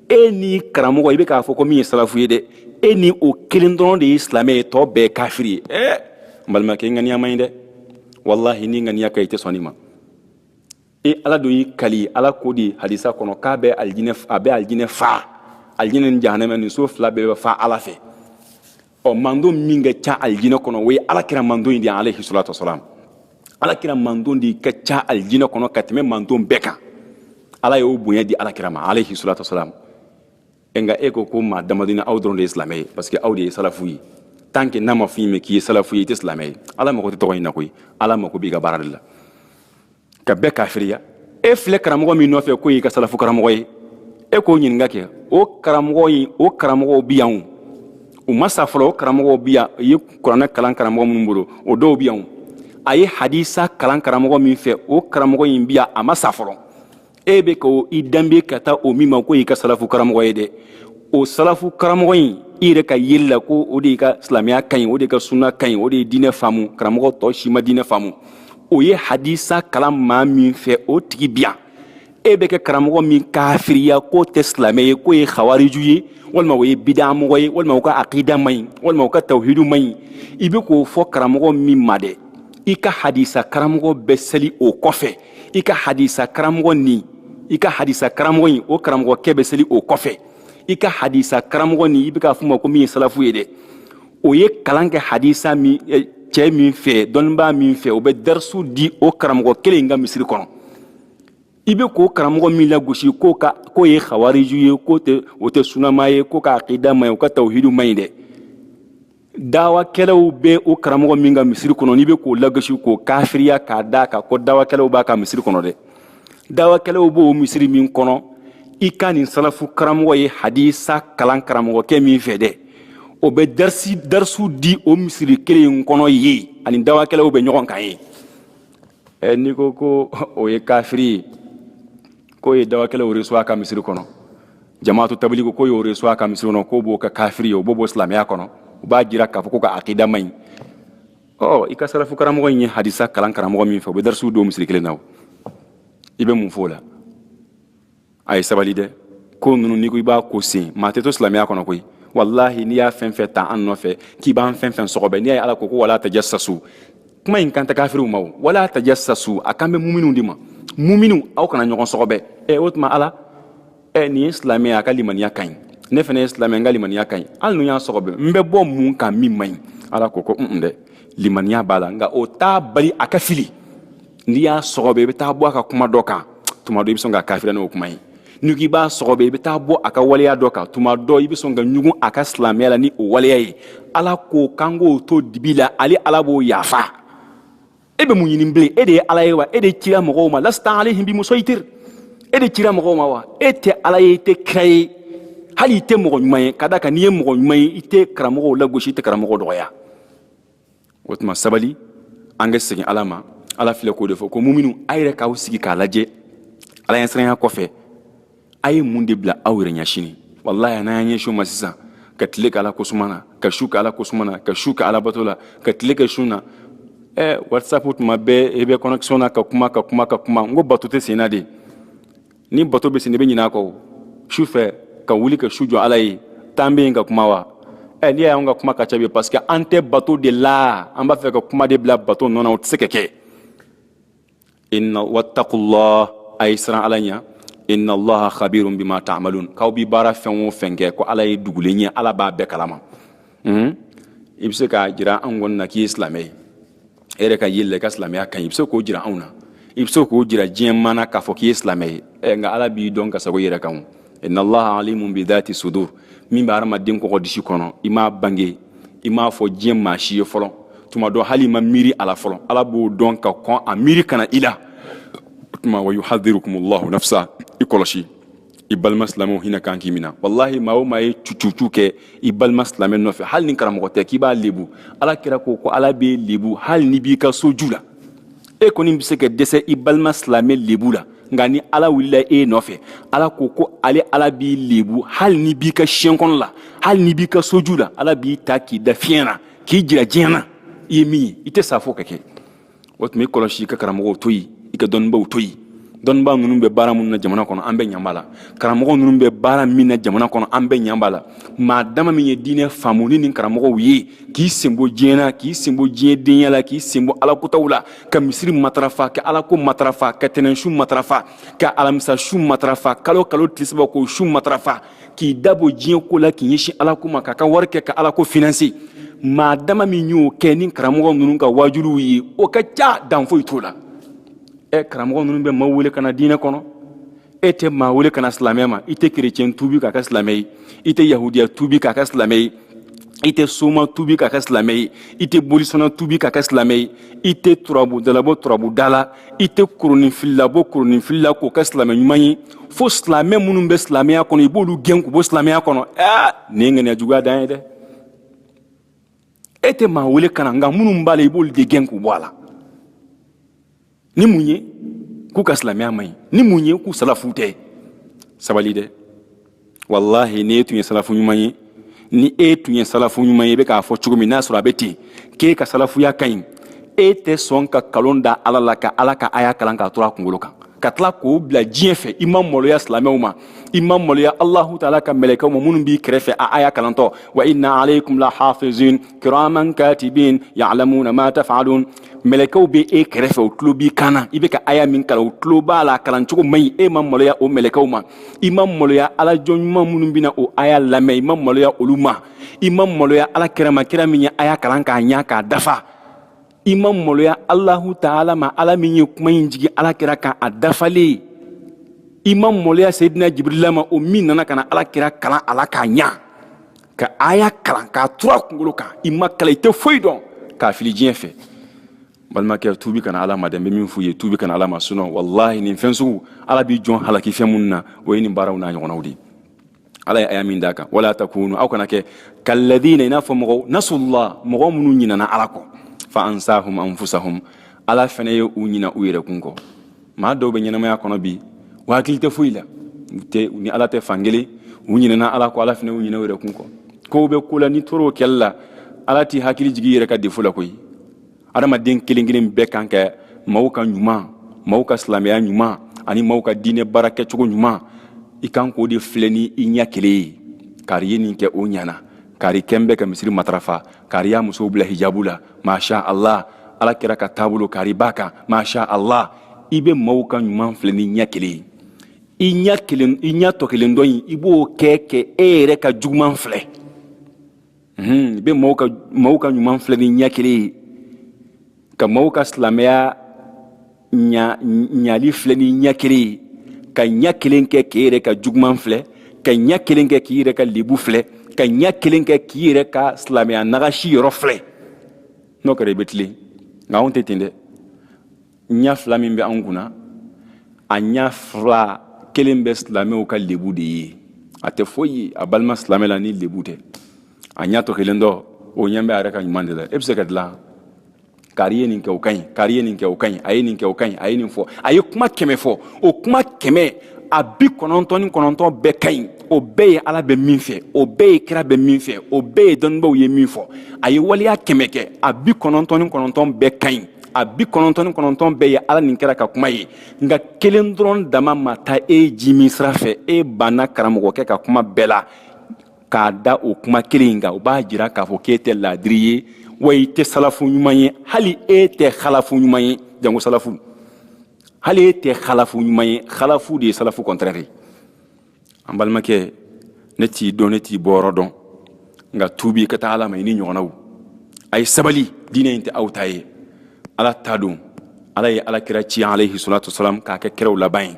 [SPEAKER 2] e n'i karamɔgɔ i bɛ k'a fɔ ko min ye salafu ye dɛ e ni o kelen dɔrɔn de ye silamɛ ye tɔ bɛɛ kafiri ye ɛ n balimakɛ i ŋaniya man ɲi dɛ walahi n'i ŋaniya ka ɲi i tɛ sɔn nin ma e ala dun y'i kali ala ko di hadisa kɔnɔ k'a bɛ alijinɛ a bɛ alijinɛ fa alijinɛ ni jahanama nin so fila bɛɛ bɛ fa ala fɛ ɔ mantɔn min ka ca alijinɛ kɔnɔ o ye alakira mantɔn in de ye alayhi salatu wasalam alakira mantɔn de ka ca alijinɛ kɔnɔ ka tɛmɛ mantɔn bɛɛ kan ala y'o bonya di alakira ma alayhi salatu wasalam nka e ko ko maa damadɔni aw dɔrɔn de ye silamɛ ye parce que aw de ye salafu ye tant que n'a ma f'i ma k'i ye salafu ye i tɛ silamɛ ye ala mago tɛ tɔgɔ in na koyi ala mago b'i ka baara de la ka bɛɛ kafiriya e filɛ karamɔgɔ min nɔfɛ k'o y'i ka salafu karamɔgɔ ye e k'o ɲininka kɛ o karamɔgɔ in o karamɔgɔw bi yan u ma sa fɔlɔ o karamɔgɔw bi yan a ye kuranɛ kalan karamɔgɔ minnu bolo o dɔw bi yan a ye hadisa kalan karamɔgɔ min fɛ o karamɔgɔ in bi yan a ma sa fɔlɔ e bɛ ka i danbe ka taa o min ma k'o y'i ka salafu karamɔgɔ ye dɛ o salafu karamɔgɔ in i yɛrɛ ka yeli la ko o de y'i ka silamɛya ka ɲi o de ka sunna ka ɲi o de ye diinɛ faamu karamɔgɔ tɔ si ma diinɛ faamu o ye hadisa kalan maa min fɛ o tigi bi yan e bɛ ka karamɔgɔ min kafiriya k'o tɛ silamɛ ye k'o ye hawariju ye walima o ye bidamɔgɔ ye walima o ka akida man ɲi walima o ka tawhidu man ɲi i bɛ k'o fɔ karamɔgɔ min ma dɛ i ka hadisa karamɔgɔ bɛ seli o kɔfɛ i ka hadisa karamɔgɔ nin i ka hadisa karamɔgɔ in o karamɔgɔkɛ bɛ seli o kɔfɛ i ka hadisa karamɔgɔ nin i bɛ k'a f'o ma ko min ye salafu ye dɛ o ye kalan kɛ hadisa min eh, cɛ min fɛ dɔnnibaa min fɛ o bɛ darisu di o karamɔgɔ kelen in ka misiri kɔnɔ i bɛ k'o karamɔgɔ min lagosi k'o ka k'o ye hawariju ye k'o tɛ o tɛ sunnamaa ye k'o ka akida man ɲi o ka tawhidu man ɲi dɛ dawakɛlaw bɛ o karamɔgɔ min ka misiri kɔnɔ n'i bɛ k'o lagosi k'o kafiriya k'a da kan ko dawakɛlaw b'a ka misiri kɔnɔ dɛ dawakɛlaw b'o misiri min kɔnɔ i ka nin salafu karamɔgɔ ye hadisa kalan karamɔgɔkɛ min fɛ dɛ o bɛ darisi darisu di o misiri kelen in kɔnɔ yen ani dawakɛlaw bɛ ɲɔgɔn kan yen ɛ n'i ko ko o ye kafiri ye k'o ye dawakɛlaw reçu a ka misiri kɔnɔ jamaatu tabili ko k'o y'o reçu a ka misiri kɔnɔ k'o b'o kɛ kafiri ye o b'o bɔ silamɛya kɔnɔ u b'a jira k'a fɔ k'o ka akida man ɲi ɔ i ka salafu karamɔgɔ in ye hadisa kalan karamɔgɔ min fɛ o bɛ darisu di o misiri kelen na o i bɛ mun fɔ o la a ye sabali dɛ ko ninnu n'i ko i b'a ko sen maa tɛ to silamɛya kɔnɔ koyi walahi n'i y'a fɛn fɛn ta an nɔfɛ k'i b'an fɛn fɛn sɔgɔbɛ n'i y'a ye ala ko ko wala tajassasu kuma in kan tɛ kafiriw ma wala tajassasu a kan bɛ muminw de ma muminw aw kana ɲɔgɔn sɔgɔbɛ ɛ o tuma ala ɛ nin ye silamɛ ye a ka limaniya ka ɲi ne fana ye silamɛ n ka limaniya ka ɲi hali n'u y'a sɔgɔbɛ n bɛ bɔ mun kan min man ɲi ala ko ko n dɛ limaniya b'a la nka o t'a bali a ka fili n'i y'a sɔgɔbɛ i bɛ taa bɔ a ka kuma dɔ kan tuma dɔ i bɛ sɔn k'a kafiriya n'o kuma ye n'i k'i b'a sɔgɔbɛ i bɛ taa bɔ a ka waleya dɔ kan tuma dɔ i bɛ sɔn ka ɲugun a ka silamɛya la ni o waleya ye ala ko k'an k'o to dibi la ale ala b'o yafa e bɛ mun ɲini bilen e de ye ala ye wa e de cira mɔgɔw ma lasta alayhim bimusaytir e de cira mɔgɔw ma wa e tɛ ala ye i tɛ kira ye hali i tɛ mɔgɔ ɲuman ye k'a da kan n'i ye mɔgɔ ɲuman ye i tɛ karamɔgɔw lagosi i tɛ karamɔgɔw dɔgɔya o tuma sabali an ka segin ala ma ala filɛ k'o de fɔ ko muminu a yɛrɛ k'aw sigi k'a lajɛ ala ɲɛsiranya kɔfɛ a ye mun de bila aw yɛrɛ ɲɛ sini walayi n'an y'an ɲɛsin o ma sisan ka tile kɛ ala kosuma na ka su kɛ ala kosuma na ka su kɛ ala bato la ka tile kɛ sun na ɛ whatsapp tuma bɛɛ i bɛ connexion na ka kuma ka kuma ka kuma n ko bato tɛ senna de ni bato bɛ sen i bɛ ɲinɛ a kɔ su fɛ ka wuli ka su jɔ ala ye tan bɛ yen ka kuma wa ɛ eh, n'i y'a ye an ka kuma ka ca bi parce que an tɛ bato de la an b'a fɛ ka kuma de bila bato nɔ na o tɛ se ka kɛ inna wattakullah a ye siran ala ɲɛ inna allaha khabirun bima ta'malun k'aw bi baara fɛn o fɛn kɛ ko ala ye dugulen ye ala b'a bɛɛ kalama i bɛ se k'a jira an kɔni na k'i ye silamɛ ye e yɛrɛ ka yeli la i ka silamɛya ka ɲi i bɛ se k'o jira anw na i bɛ se k'o jira diɲɛ maa na k'a fɔ k'i ye silamɛ ye ɛ nka ala b'i dɔn ka sago i yɛrɛ kan o inna allaha alimun bi dhati sudur min bɛ hadamaden kɔgɔ disi kɔnɔ i m'a bange i m'a fɔ diɲɛ maa si ye fɔlɔ tuma dɔ hali i ma miiri a la fɔlɔ ala b'o dɔn ka kɔn a miiri ka na i la tuma wa yuhadhirukumullahu nafsa i kɔlɔsi i balima silamɛw hinɛ kan k'i mina walahi maa o maa ye cucucu kɛ i balima silamɛ nɔfɛ hali ni karamɔgɔ tɛ k'i b'a lebu ala kira ko ko ala b'i lebu hali n'i b'i ka so ju la e kɔni bɛ se ka dɛsɛ i balima silamɛ lebu la nka ni ala wulila e nɔfɛ ala ko ko ale ala b'i lebu hali n'i b'i ka siɲɛ kɔnɔ la hali n'i b'i ka so ju la ala b'i ta k'i da fiɲɛ na k'i jira diɲɛ na i ye min ye i tɛ sa fo ka kɛ o tuma i kɔlɔsi i ka karamɔgɔw to yen i ka dɔnnibaw to yen dɔnniba ninnu bɛ baara minnu na jamana kɔnɔ an bɛɛ ɲa b'a la karamɔgɔ ninnu bɛ baara min na jamana kɔnɔ an bɛɛ ɲa b'a la maa dama min ye diinɛ faamu ni nin karamɔgɔw ye k'i sen bɔ diɲɛ na k'i sen bɔ diɲɛ denya la k'i sen bɔ alakotaw la ka misiri matarafa ka alako matarafa ka tɛnɛn sun matarafa ka alamisa sun matarafa kalo kalo tile saba k'o sun matarafa k'i da bɔ diɲɛ ko la k'i ɲɛsin ala ko ma k'a ka wari kɛ ka ala ko finanse maa dama min y'o kɛ ni karamɔgɔ ninnu ka wajuliw ye o ka ca dan foyi t'o la ɛ karamɔgɔ ninnu bɛ maaw wele ka na diinɛ kɔnɔ e tɛ maa wele ka na silamɛ ma i tɛ kerecɛn tuubi k'a kɛ silamɛ ye i tɛ yahudiya tuubi k'a kɛ silamɛ ye i tɛ soma tuubi k'a kɛ silamɛ ye i tɛ bolisɔnna tuubi k'a kɛ silamɛ ye i tɛ turabudala bɔ turabuda la i tɛ koroninfilila bɔ koroninfili la k'o kɛ silamɛ ɲuman ye fo silamɛ minnu bɛ silamɛya kɔnɔ i b'olu gɛn k'u bɔ silamɛya kɔnɔ aa nin ye ŋaniya juguya dan ye dɛ e tɛ maa wele ka na nka minnu b'a la i b'olu de gɛn k'u bɔ a la ni mun ye k'u ka silamɛya man ɲi ni mun ye k'u salafu tɛ sabali dɛ walahi n'e tun ye salafu ɲuman ye ni e tun ye salafu ɲuman ye i bɛ k'a fɔ cogo min n'a sɔrɔ a bɛ ten k'e ka salafuya ka ɲi e tɛ sɔn ka kalon da ala la ka ala ka aya kalan k'a to a kunkolo kan ka tila k'o bila diɲɛ fɛ i ma maloya silamɛw ma i ma maloya alahu taala ka mɛlɛkɛw ma minnu b'i kɛrɛfɛ a aya kalantɔ wa inna alaykum la hafizin kiraman katibin ya'lamuna ma taf'alun mɛlɛkɛw bɛ e kɛrɛfɛ u tulo b'i kan na i bɛ ka aya min kalan u tulo b'a la kalancogo man ɲi e ma maloya o mɛlɛkɛw ma i ma maloya ala jɔn ɲuman minnu bɛna o aya lamɛn i ma maloya olu ma i ma maloya ala kira ma kira min ye aya kalan k'a ɲa k'a dafa i ma maloya alahu taala ma ala min ye kuma in jigin ala kira kan a dafalen i ma maloya seyidina jibirila ma o min nana ka na ala kira kalan a la k'a ɲa ka aya kalan k'a turu a kunkolo kan i ma kalan i tɛ foyi dɔn k'a fili diɲɛ fɛ balimakɛ tuubi ka na ala ma dɛ n bɛ min f'u ye tuubi ka na ala ma sinɔn walahi nin fɛn sugu ala bɛ jɔn halaki fɛn minnu na o ye nin baaraw n'a ɲɔgɔnnaw de ye ala ye aya min d'a kan wala takunu aw kana kɛ kalladina i n'a fɔ mɔgɔw nasullah mɔgɔ minnu ɲinana ala kɔ fa ansahum anfusahum ala fana ye u ɲina u yɛrɛkun kɔ maa dɔw bɛ ɲɛnamaya kɔnɔ bi u hakili tɛ foyi la u tɛ u ni ala tɛ fan kelen u ɲinɛna ala kɔ ala fana y'u ɲinɛ u yɛrɛ kun kɔ kow bɛ ko la n'i tor'o kɛli la ala t'i hakili jigi yɛrɛ ka defo la koyi adamaden kelen kelen bɛɛ kan ka maaw ka ɲuman maaw ka silamɛya ɲuman ani maaw ka diinɛ baara kɛcogo ɲuman i kan k'o de filɛ ni i ɲɛ kelen ye kari ye nin kɛ o ɲana kari kɛn bɛ ka misiri matarafa kari y'a musow bila hijabu la masha allah ala kira ka taabolo kari b'a kan masha allah i bɛ maaw ka ɲuman filɛ ni ɲɛ kelen ye i ɲɛ kelen i ɲɛ tɔ kelen dɔ in i b'o kɛ kɛ e yɛrɛ ka juguman filɛ i bɛ maaw ka ɲuman filɛ ni ɲɛ kelen ye ka maaw ka silamɛya ɲali filɛ ni ɲɛ kelen ye ka ɲɛ kelen kɛ k'i yɛrɛ ka juguman filɛ ka ɲɛ kelen kɛ k'i yɛrɛ ka lebu filɛ ka ɲɛ kelen kɛ k'i yɛrɛ ka silamɛya nagasi yɔrɔ filɛ n'o kɛra i bɛ tilen nka anw tɛ ten dɛ ɲɛ fila min bɛ anw kunna a ɲɛ fila kelen bɛ silamɛw ka lebu de ye a tɛ foyi ye a balima silamɛ la ni lebu tɛ a ɲɛ tɔ kelen dɔ o ɲɛ bɛ a yɛrɛ ka ɲuman de la e bɛ se ka dilan kari ye nin kɛ o ka ɲi kari ye nin kɛ o ka ɲi a ye nin kɛ o ka ɲi a ye nin fɔ a ye kuma kɛmɛ fɔ o kuma kɛmɛ a bi kɔnɔntɔn ni kɔnɔntɔn bɛɛ ka ɲi o bɛɛ ye ala bɛ min fɛ o bɛɛ ye kira bɛ min fɛ o bɛɛ ye dɔnnibaaw ye min fɔ a ye waleya kɛmɛ kɛ a bi kɔnɔntɔn ni kɔnɔntɔn bɛɛ ka ɲi a bi kɔnɔntɔn ni kɔnɔntɔn bɛɛ ye ala ni kira ka kuma ye nka kelen dɔrɔn dama ma taa e ji min sira fɛ e banna karamɔgɔkɛ ka kuma bɛɛ la k'a da o kuma kelen in kan o b'a jira k'a fɔ k'e tɛ laadiri ye wa i tɛ salafu ɲuman ye hali e tɛ halafu ɲuman ye janko salafu hali e tɛ halafu ɲuman ye halafu de ye salafu kɔntɛrɛ ye an balimakɛ ne t'i dɔn ne t'i bɔyɔrɔ dɔn nka tuubi ka taa ala ma i n'i ɲɔgɔnnaw a ye sabali diinɛ in tɛ aw ta ye ala ta don ala ye ala kira ci alayhi salatu wasalam k'a kɛ kiraw laban ye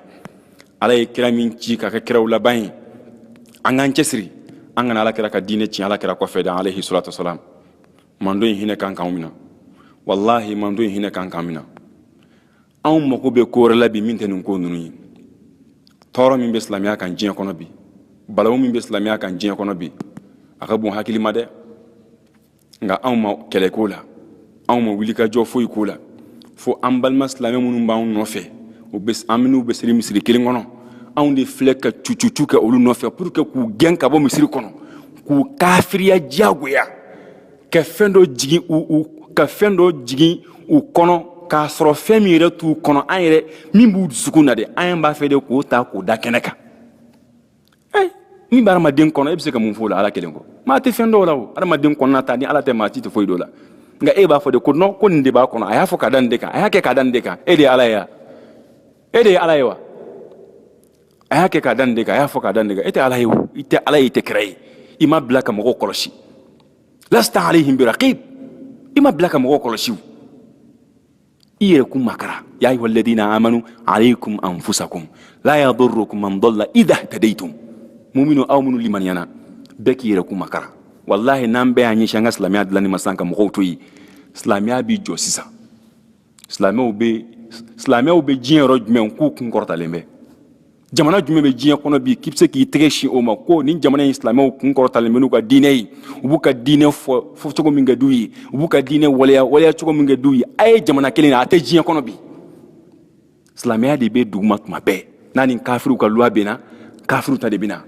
[SPEAKER 2] ala ye kira min ci k'a kɛ kiraw laban ye an k'an cɛsiri an kana ala kira ka diinɛ tiɲɛ ala kira kɔfɛ dan alayhi salatu wasalam mando in hinɛ kan k'anw minɛ walahi mando in hinɛ kan k'an minɛ anw mago bɛ ko wɛrɛ la bi min tɛ nin ko ninnu ye tɔɔrɔ min bɛ silamɛya kan diɲɛ kɔnɔ bi balawu min bɛ silamɛya kan diɲɛ kɔnɔ bi a ka bon hakili ma dɛ nka anw ma kɛlɛ k'o la anw ma wulikajɔ foyi k'o la fo an balima silamɛ minnu b'anw nɔfɛ u bɛ an minnu bɛ seli misiri kelen kɔnɔ anw de filɛ ka cucucu kɛ olu nɔfɛ pour que k'u gɛn ka bɔ misiri kɔnɔ k'u kafiriya diyagoya ka fɛn dɔ jigin u u ka fɛn dɔ jigin u kɔnɔ k'a sɔrɔ fɛn min yɛrɛ t'u kɔnɔ an yɛrɛ min b'u dusukun na de an b'a fɛ de k'o ta k'o da kɛnɛ kan ayi min bɛ adamaden kɔnɔ e bɛ se ka mun fɔ o la ala kelen kɔ maa tɛ fɛn dɔn o la o adamaden kɔnɔna ta ni ala tɛ maa si tɛ foyi dɔn o la nka e b'a fɔ de ko non ko nin de b'a kɔnɔ a y'a fɔ ka da nin de kan a y'a kɛ ka da nin de kan e de ye ala ye wa e de ye ala ye wa a y'a kɛ ka da nin de kan a y'a fɔ ka da nin de kan e tɛ ala ye o i tɛ ala ye i tɛ kira ye i ma bila ka mɔgɔw kɔlɔsi lasta alayhim biraqib i ma bila ka mɔgɔw kɔlɔsi o i yɛrɛ kun makara ya ayuha alladina amanu alaykum anfusakum la yadurukum man dalla idha ihtadaytum muminiw aw minnu limaniyana bɛɛ k'i yɛrɛ kun makara walahi n'an bɛɛ y'an ɲɛsin an ka silamɛya dilanni ma sisan ka mɔgɔw to yen silamɛya b'i jɔ sisan silamɛw bɛ silamɛw bɛ diɲɛ yɔrɔ jumɛn k'u kun kɔrɔtalen bɛ jamana jumɛn bɛ diɲɛ kɔnɔ bi k'i bɛ se k'i tɛgɛ sin o ma ko nin jamana in silamɛw kun kɔrɔtalen bɛ n'u ka diinɛ ye u b'u ka diinɛ fɔ fɔ cogo min ka d'u ye u b'u ka diinɛ waleya waleya cogo min ka d'u ye a ye jamana kelen na a tɛ diɲɛ kɔnɔ bi silamɛya de bɛ duguma tuma bɛɛ n'a ni kafiriw ka loi bɛnna kafiriw ta de bɛ na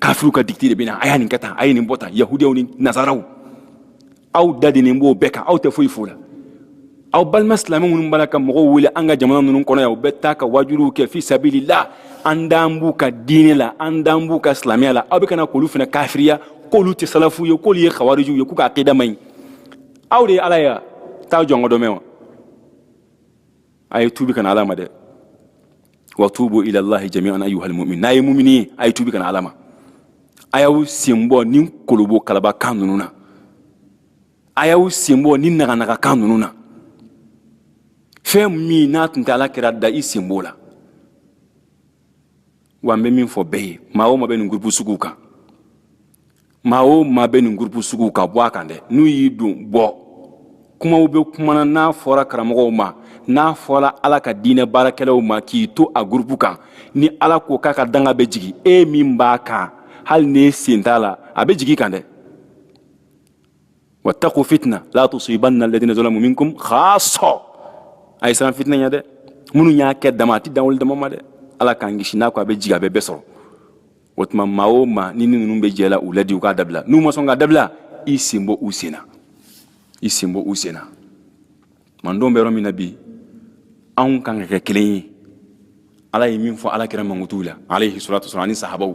[SPEAKER 2] kafiriw ka dictée de bɛ na a y'a nin kɛ tan a ye nin bɔ tan yahudiyaw ni nazaraw aw dadenen b'o bɛɛ kan aw tɛ foyi f'o la aw balima silamɛ minnu b'a la ka mɔgɔw wele an ka jamana ninnu kɔnɔ yan u bɛ taa ka waajuliw kɛ fi sabilillah an dan b'u ka diinɛ la an dan b'u ka silamɛya la aw bɛ ka na k'olu fana kafiriya k'olu tɛ salafu ye k'olu ye khawarijuw ye k'u ka akida man ɲi aw de ye ala ye wa taa jɔnkɔdɔmɛ wa a ye tuubi ka na ala ma dɛ wa tuubu ila allahi jamian ayuha almumin n'a ye mumini ye a ye tuubi ka na ala ma a y'aw sen bɔ nin kolobokalaba kan ninnu na a y'aw sen bɔ nin naganaga kan ninnu na fɛn min n'a tun tɛ ala kira da i sen b'o la wa n bɛ min fɔ bɛɛ ye maa o maa bɛ nin gurupu suguw kan maa o maa bɛ nin gurupu suguw kan bɔ a kan dɛ n'u y'i don bɔ kumaw bɛ kumana n'a fɔra karamɔgɔw ma n'a fɔra ala ka diinɛ baarakɛlaw ma k'i to a gurupu kan ni ala ko k'a ka danga bɛ jigin e min b'a kan hali n'e sen t'a la a bɛ jigin i kan dɛ wattaqu fitna la tusibanna alladhina zalamu minkum khassa a ye siran fitinɛ ɲɛ dɛ minnu y'a kɛ dama a tɛ dan olu dama ma dɛ ala k'an kisi n'a ko a bɛ jigin a bɛ bɛɛ sɔrɔ o tuma maa o maa ni ni ninnu bɛ jɛ la u ladi u k'a dabila n'u ma sɔn k'a dabila i sen bɔ u sen na i sen bɔ u sen na mandenw bɛ yɔrɔ min na bi anw kan ka kɛ kelen ye ala ye min fɔ ala kira mankutuw la alayhi salatu wasalam ani sahabaw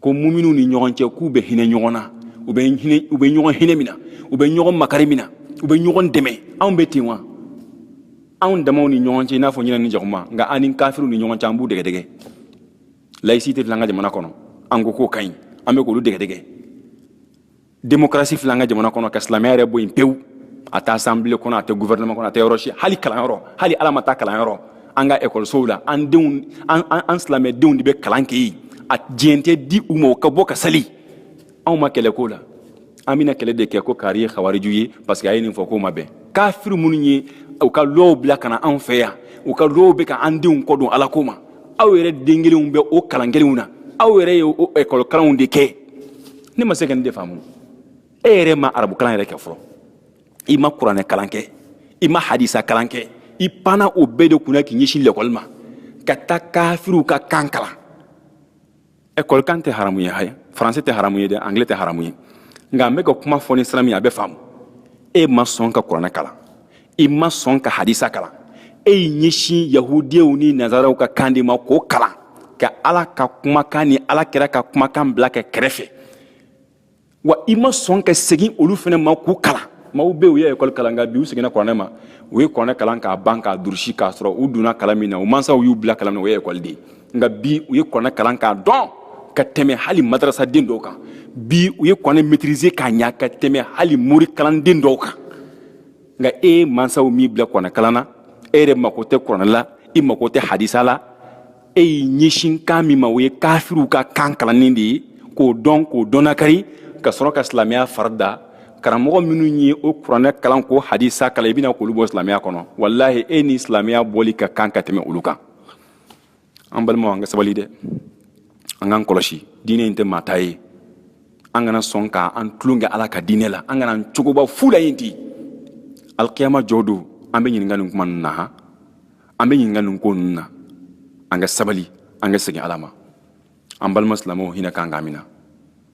[SPEAKER 2] ko muminu ni ɲɔgɔn cɛ k'u bɛ hinɛ ɲɔgɔn na u bɛ ɲɔgɔn hinɛ mina u bɛ ɲɔgɔn makari mina u bɛ ɲɔgɔn dɛmɛ anw bɛ ten wa anw damaw ni ɲɔgɔn cɛ i n'a fɔ ɲinɛ ni jakuma nka an ni kafiriw ni ɲɔgɔn cɛ an b'u dɛgɛdɛgɛ laïcité filɛ an ka jamana kɔnɔ an ko k'o ka ɲi an bɛ k'olu dɛgɛdɛgɛ démocratie filɛ an ka jamana kɔnɔ ka silamɛya yɛrɛ bɔ yen pewu a tɛ assemblée kɔnɔ a tɛ gouvernement kɔnɔ a tɛ yɔrɔ si hali kalanyɔrɔ hali ala ma taa kalanyɔrɔ an ka ekɔlisow la an denw an an an silamɛdenw de bɛ kalan kɛ yen a diɲɛ tɛ di u ma u ka bɔ ka sali anw ma kɛlɛ k'o la an bɛna kɛlɛ de kɛ ko kari ye kawariju ye parce que a ye nin fɔ k'o ma bɛn kafiri minnu ye u ka lɔw bila ka na anw fɛ yan u ka lɔw bɛ ka an denw kɔ don ala ko ma aw yɛrɛ den kelenw bɛ o kalan kelenw na aw yɛrɛ ye o ekɔlikalanw de kɛ ne ma se ka nin de faamu e yɛrɛ ma arabu kalan yɛrɛ kɛ fɔlɔ i ma kuranɛ kalan kɛ i ma hadisa kalan kɛ i panna o bɛɛ de kunna k'i ɲɛsin lɛkɔli ma ka taa kafiriw ka kan kalan ekɔli kan tɛ haramu ye haye faransɛ tɛ haramu ye dɛ angilɛ tɛ haramu ye nka n bɛ ka kuma fɔ ni sira min ye a bɛ faamu e ma sɔn ka kuranɛ kalan i ma sɔn ka hadisa kalan e y'i ɲɛsin yahudiyaw ni nazaraw ka kan de ma k'o kalan ka ala ka kumakan ni ala kira ka kumakan bila kɛ kɛrɛfɛ wa i ma sɔn ka segin olu fana ma k'u kalan maaw bɛ u ye ekɔli kalan nka bi u seginna kuranɛ ma u ye kuranɛ kalan k'a ban k'a durusi k'a sɔrɔ u donna kalan min na u mansaw y'u bila kalan na o ye ekɔli de ye nka bi u ye kuranɛ kalan k'a dɔn ka tɛmɛ hali madarasaden dɔw kan bi u ye kuranɛ maîtriser k'a ɲa ka tɛmɛ hali mori kalanden dɔw kan nka e mansaw m'i bila kuranɛkalan na e yɛrɛ mako tɛ kuranɛ la i mako tɛ hadisa la e y'i ɲɛsin kan min ma o ye kafiriw ka kan kalanni de ye k'o dɔn k'o dɔnnakari ka sɔrɔ ka silamɛya fari da karamɔgɔ minnu ye o kuranɛ kalan k'o hadisa kalan i bɛna k'olu bɔ silamɛya kɔnɔ walahi e ni silamɛya bɔli ka kan ka tɛmɛ olu kan an balimaw an ka sabali dɛ an k'an kɔlɔsi diinɛ in tɛ maa ta ye an kana sɔn ka an tulon kɛ ala ka diinɛ la an kana an cogoba fu la yen di alikiyama jɔ don an bɛ ɲininka nin kuma ninnu na han an bɛ ɲininka nin ko ninnu na an ka sabali an ka segin ala ma an balima silamɛw hinɛ kan k'an minɛ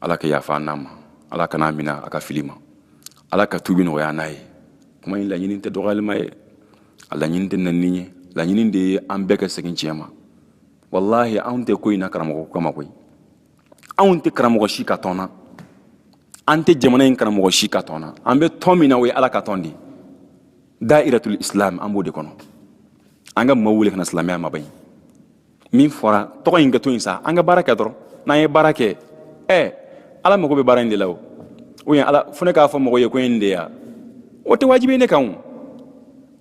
[SPEAKER 2] ala ka yafa an n'a ma ala kan'a mina a ka fili ma ala ka tubi nɔgɔya an n'a ye kuma in laɲini tɛ dɔgɔyalima ye a laɲini tɛ nɛnini ye laɲini de ye an bɛɛ ka segin tiɲɛ ma walahi anw tɛ ko in na karamɔgɔ kama koyi anw tɛ karamɔgɔ si ka tɔn na an tɛ jamana in karamɔgɔ si ka tɔn na an bɛ tɔn min na o ye ala ka tɔn de ye dairatul islam an b'o de kɔnɔ an ka maaw wele ka na silamɛya ma ba ye min fɔra tɔgɔ in ka to yen sa an ka baara kɛ dɔrɔn n'an ye baara kɛ ɛ ala mago bɛ baara in de la o o ye ala fo ne k'a fɔ mɔgɔ ye ko in de ya o tɛ wajibi ne kan o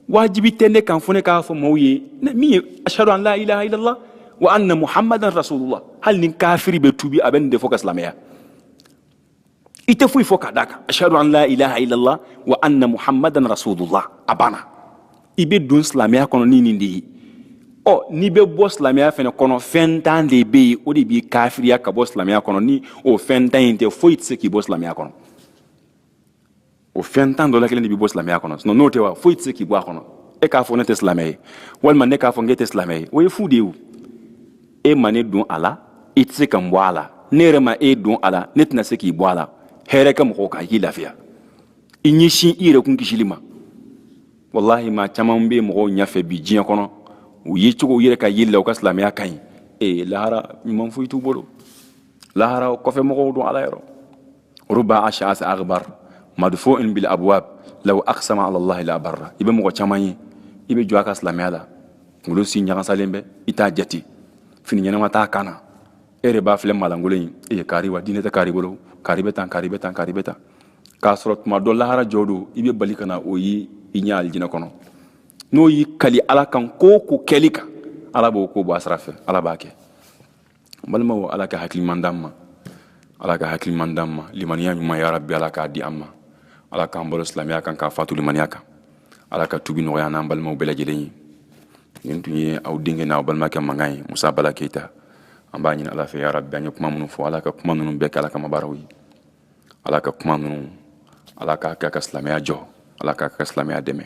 [SPEAKER 2] wajibi tɛ ne kan fo ne k'a fɔ mɔgɔw ye min ye ashadu an la ilaha illallah wa anna muhammadan rasulullah hali ni kafiri bɛ tubi a bɛ nin de fɔ ka silamɛya i tɛ foyi fɔ ka d'a kan ashadu an la ilaha illallah wa anna muhammadan rasulullah a banna i bɛ don silamɛya kɔnɔ ni nin de ye ɔ n'i bɛ bɔ silamɛya fana kɔnɔ fɛn tan de bɛ yen o de b'i kafiriya ka bɔ silamɛya kɔnɔ ni o fɛn tan in tɛ foyi tɛ se k'i bɔ silamɛya kɔnɔ o fɛn tan dɔ la kelen de b'i bɔ silamɛya kɔnɔ sinɔn n'o tɛ wa foyi tɛ se k'i bɔ a kɔnɔ e k'a fɔ ne tɛ silamɛ ye walima ne k'a fɔ k'e tɛ silamɛ ye o ye fu de ye o e ma ne don a la i tɛ se ka n bɔ a la ne yɛrɛ ma e don a la ne tɛna se k'i bɔ a la hɛrɛ kɛ mɔgɔw kan i k'i lafiya i ɲɛsin i yɛrɛ kun kisili ma walahi maa caman bɛ mɔgɔw ɲɛfɛ bi diɲɛ kɔnɔ u ye cogo u yɛrɛ ka yeli la u ka silamɛya ka ɲi ee lahara ɲuman foyi t'u bolo lahara kɔfɛ mɔgɔw don ala yɔrɔ ruba ash'asa aghbar madfu'in bil abwab law aqsama ala allah la barra i bɛ mɔgɔ caman ye i bɛ jɔn a ka silamɛya la kunkolo si ɲagasalen bɛ i t'a jate fini ɲɛnama t'a kan na e yɛrɛ b'a filɛ malangolo in e ye kari wa diinɛ tɛ kari bolo kari bɛ tan kari bɛ tan kari bɛ tan k'a sɔrɔ tuma dɔ lahara jɔ don i bɛ bali ka na o ye i ɲɛ alijinɛ kɔnɔ n'o y'i kali ala kan ko ko kɛli kan ala b'o ko bɔ a sira fɛ ala b'a kɛ balimaw ala ka hakili ɲuman d'an ma ala ka hakili ɲuman d'an ma limaniya ɲuman ya rabi ala k'a di an ma ala k'an balo silamɛya kan k'an fatu limaniya kan ala ka tubi nɔgɔya an n'an balimaw bɛɛ lajɛlen ye nin tun ye aw denkɛ n'aw balimakɛ mankan ye musa bala keyita an b'a ɲini ala fɛ ya rabi an ye kuma minnu fɔ ala ka kuma ninnu bɛɛ kɛ ala kama baaraw ye ala ka kuma ninnu ala k'a kɛ ka silamɛya jɔ ala k'a kɛ ka silamɛya dɛmɛ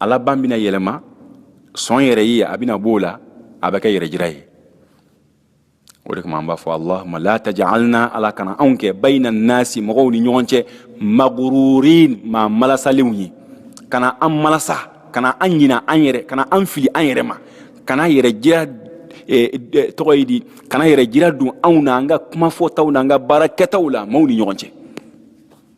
[SPEAKER 2] a laban bɛna yɛlɛma sɔn yɛrɛ ye a bɛna b'o la a bɛ kɛ yɛrɛjira ye o de kama an b'a fɔ allahuma la tajalna ala kana anw kɛ bayina nasi mɔgɔw ni ɲɔgɔn cɛ magururin maa malasalenw ye kana an malasa kana an ɲina an yɛrɛ kana an fili an yɛrɛ ma kana yɛrɛjira e, e, tɔgɔ ye di kana yɛrɛjira don anw na an ka kuma fɔtaw na an ka baara kɛtaw la maaw ni ɲɔgɔn cɛ